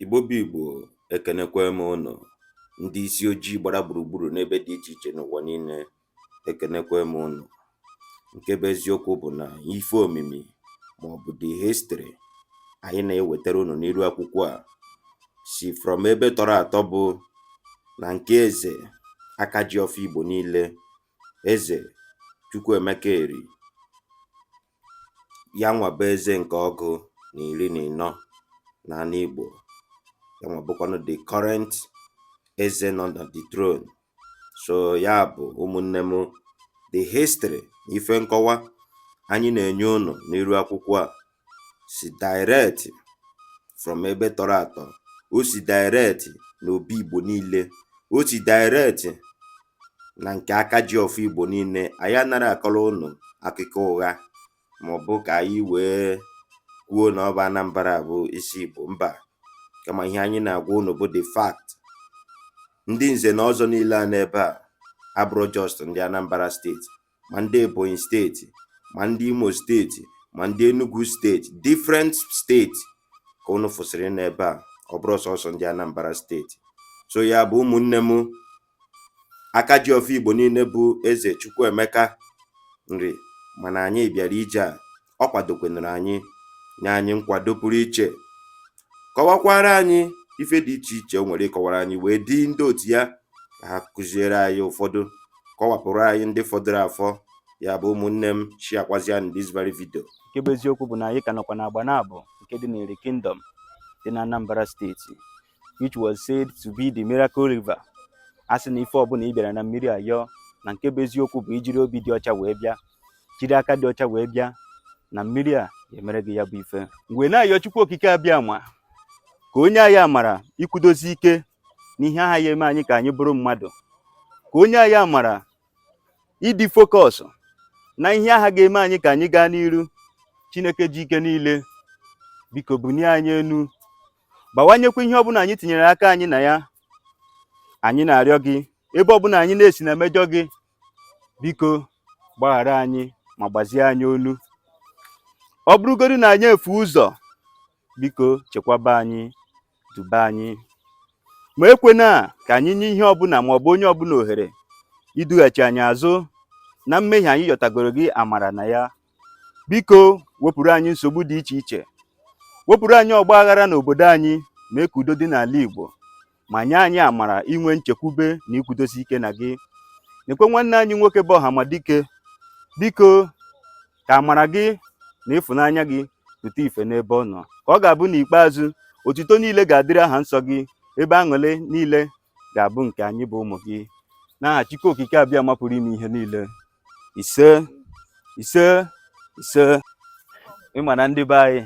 Igbo bụ Igbo ekenekwa m ụnụ, ndị isi ojii gbara gburugburu n'ebe dị iche iche n'ụwa niile ekenekwa m ụnụ. Nke bụ eziokwu bụ na ife omimi maọbụ the history anyị na-ewetara ụnụ n'iru akwụkwọ a si from ebe tọrọ atọ bụ na nke eze aka ji ọfọ Igbo niile eze Chukwuemeka Eri yanwà bụ eze ǹkè ọgụ nà ìri nà ị̀nọ n'anị ìgbò yanwà bụkwanụ the current eze nọ nà the throne so ya bụ̀ ụmụ̀ nne m the history na ife nkọwa anyị nà-ènye unù n'iru akwụkwọ à sì direct from ebe tọrọ àtọ o sì direct n'òbi ìgbò niilė o sì direct na nke aka ji ọfọ Igbo niile anyị anaghị akọrọ ụnụ akụkọ ụgha maọbụ ka anyị wee kwuo na ọ bụ Anambra bụ isi Igbo mba kama ihe anyị na-agwa ụnụ bụ the fact ndị nze na ọzọ niile a n'ebe a abụrọ just ndị Anambra steeti ma ndị Ebonyi steeti ma ndị Imo steeti ma ndị Enugu steeti different steeti ka unu fụsịrị n'ebe a ọ bụrọ sọsọ ndị Anambra steeti so ya bụ ụmụnne m aka ji ọfọ Igbo niile bụ eze Chukwuemeka Eri mana anyị bịara ije a ọ kwadokwenụrụ anyị nye anyị nkwado pụrụ iche kọwakwara anyị ife dị iche iche o nwere ịkọwara anyị wee di ndị otu ya ka ha kụziere anyị ụfọdụ kọwapụrụ anyị ndị fọdụrụ afọ ya bụ ụmụnne m sharekwazianụ this very video nke bụ eziokwu bụ na anyị ka nọkwa n'Agbanabo nke dị n'Eri Kingdom dị na Anambra steeti which was said to be the miracle river a sị na ife ọbụla ị bịara na mmiri a yọọ na nke bụ eziokwu bụ i jiri obi dị ọcha wee bịa jiri aka dị ọcha wee bịa na mmiri a ga-emere gị ya bụ ife m wee na-ayọ Chukwu Okike Abịama ka o nye anyị amara ikwudozi ike n'ihe aha ya-eme anyị ka anyị bụrụ mmadụ ka o nye anyị amara ịdị focus na ihe aha ga-eme anyị ka anyị gaa n'iru Chineke ji ike niile biko bunie anyị enu bawanyekwa ihe ọbụla anyị tinyere aka anyị na ya anyị na-arịọ gị ebe ọbụla anyị na-esi na-emejọ gị biko gbaghara anyị ma gbazie anyị olu ọ bụrụgodi na anyị efuo ụzọ biko chekwaba anyị duba anyị ma ekwena ka anyị nye ihe ọbụla ma ọ bụ onye ọbụla ohere idughachi anyị azụ na mmehie anyị yọtagoro gị amara na ya biko wepụrụ anyị nsogbu dị iche iche wepụrụ anyị ọgba aghara n'obodo anyị mee ka udo dị n'ala Igbo ma nye anyị amara inwe nchekwube na ikwudosi ike na gị nekwa nwanne anyị nwoke bụ Ọhamadike biko ka amara gị na ịfụnanya gị pụta ife n'ebe ọ nọ ka ọ ga-abụ n'ikpeazụ otuto niile ga-adịrị aha nsọ gị ebe aṅụlị niile ga-abụ nke anyị bụ ụmụ gị n'aha Chukwu Okike Abịama pụrụ ime ihe niile ise ise ise ịma na ndị be anyị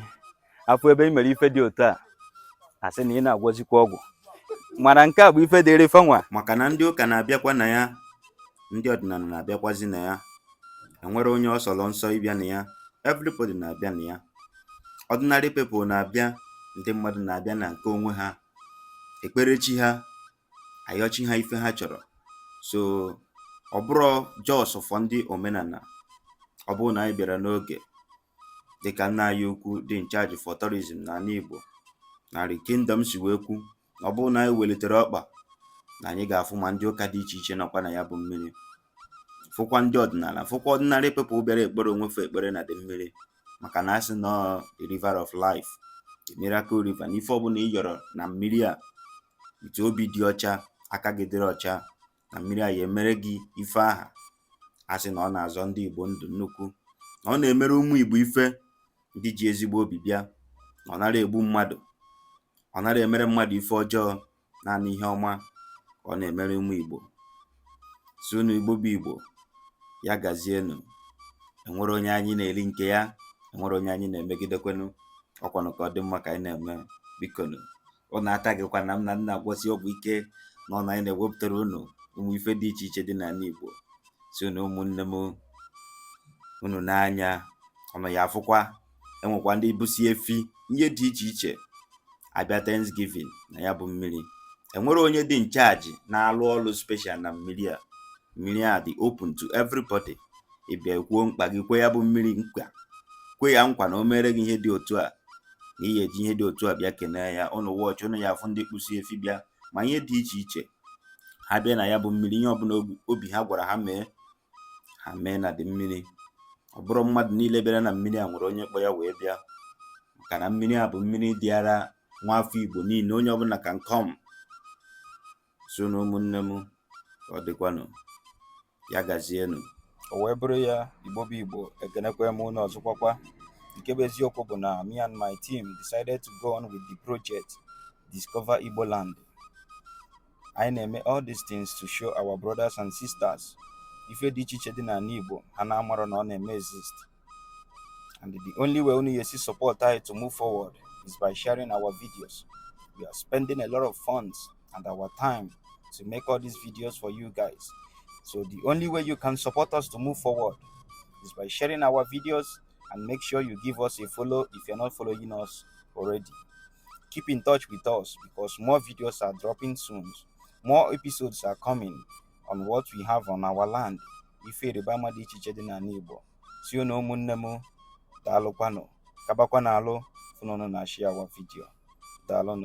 afụ ebe ị mere ife dị otu a asị na ị na-agwọzikwa ọgwụ mana nke a bụ ife dịrị fanwa maka na ndị ụka na-abịakwa na ya ndị ọdịnala na-abịakwazi na ya enwerọ onye ọ sọrọ nsọ ịbịa na ya everybody na-abịa na ya ordinary people na-abịa ndị mmadụ na-abịa na nke onwe ha ekpere chi ha ayọ chi ha ife ha chọrọ so ọ bụrọ just for ndị omenala ọ bụrụ na anyị bịara n'oge dịka nna anyị ukwu dị in charge for tourism n'anị Igbo na Eri kingdom si wee kwu na ọ bụrụ na anyị welitere ọkpa na anyị ga-afụ ma ndị ụka dị iche iche nọkwa na ya bụ mmiri fụkwa ndị ọdịnala fụkwa ordinary people bịara ekpere onwe fa ekpere na dị mmiri maka na asị na ọ the river of life the miracle river na ife ọbụla ị yọrọ na mmiri a with obi dị ọcha aka gị dịrị ọcha na mmiri a ya emere gị ife aha asị na ọ na-azọ ndị Igbo ndụ nnukwu na ọ na-emere ụmụ Igbo ife ndị ji ezigbo obi bịa na ọ narọ egbu mmadụ ọ narọ emere mmadụ ife ọjọọ naanị ihe ọma ka ọ na-emere ụmụ Igbo sị unu Igbo bụ Igbo ya gazienụ enwerọ onye anyị na-eri nke ya enwerọ onye anyị na-emegidekwanụ ọkwanụ ka ọ dị mma ka anyị na-eme bikonu unu atagịkwana m na m na-agwọsi ọgwụ ike na ọ na anyị na-ewepụtara unu ụmụ ife dị iche iche dị n'anị Igbo si unu ụmụnne m unu nee anya unu ya afụkwa e nwekwa ndị busi efi ihe dị iche iche abịa Thanksgiving na ya bụ mmiri enwere onye dị in charge na-alụ ọlụ special na mmiri a mmiri a dị open to everybody ị bịa kwuo mkpa gị kwe ya bụ mmiri nkwa kwe ya nkwa na o mere gị ihe dị otu a na ị ya-eji ihe dị otu a bịa kenee ya unu watch unu ya afụ ndị kpụsi efi bịa ma ihe dị iche iche ha bịa na ya bụ mmiri ihe ọbụla obi ha gwara ha mee ha mee na dị mmiri ọ bụrọ mmadụ niile bịara na mmiri a nwere onye kpọ ya wee bịa maka na mmiri a bụ mmiri dịrị nwa afọ igbo niile onye ọbụla can come so na ụmụnne m ọ dịkwanụ ya gazienụ o wee bụrụ ya igbo bụ igbo ekenekwa m unu ọzọkwakwa nke bụ eziokwu bụ na me and my team decided to go on with the project discover igbo land anyị na-eme all these things to show our brothers and sisters ife dị iche iche dị n'ala Igbo ha na-amarọ na ọ na-eme exist and the only way unu ga-esi support anyị to move forward is by sharing our videos we are spending a lot of funds and our time to make all these videos for you guys so the only way you can support us to move forward is by sharing our videos and make sure you give us a follow if you're not following us already. Keep in touch with us because more videos are dropping soon. More episodes are coming on what we have on our land. Ife ịrịba ama dị iche iche dị n'ana Igbo. Sị unu ụmụnne m daalụkwanụ gabakwa n'ilu fụ na unu na-ashare our video. Daalụnụ.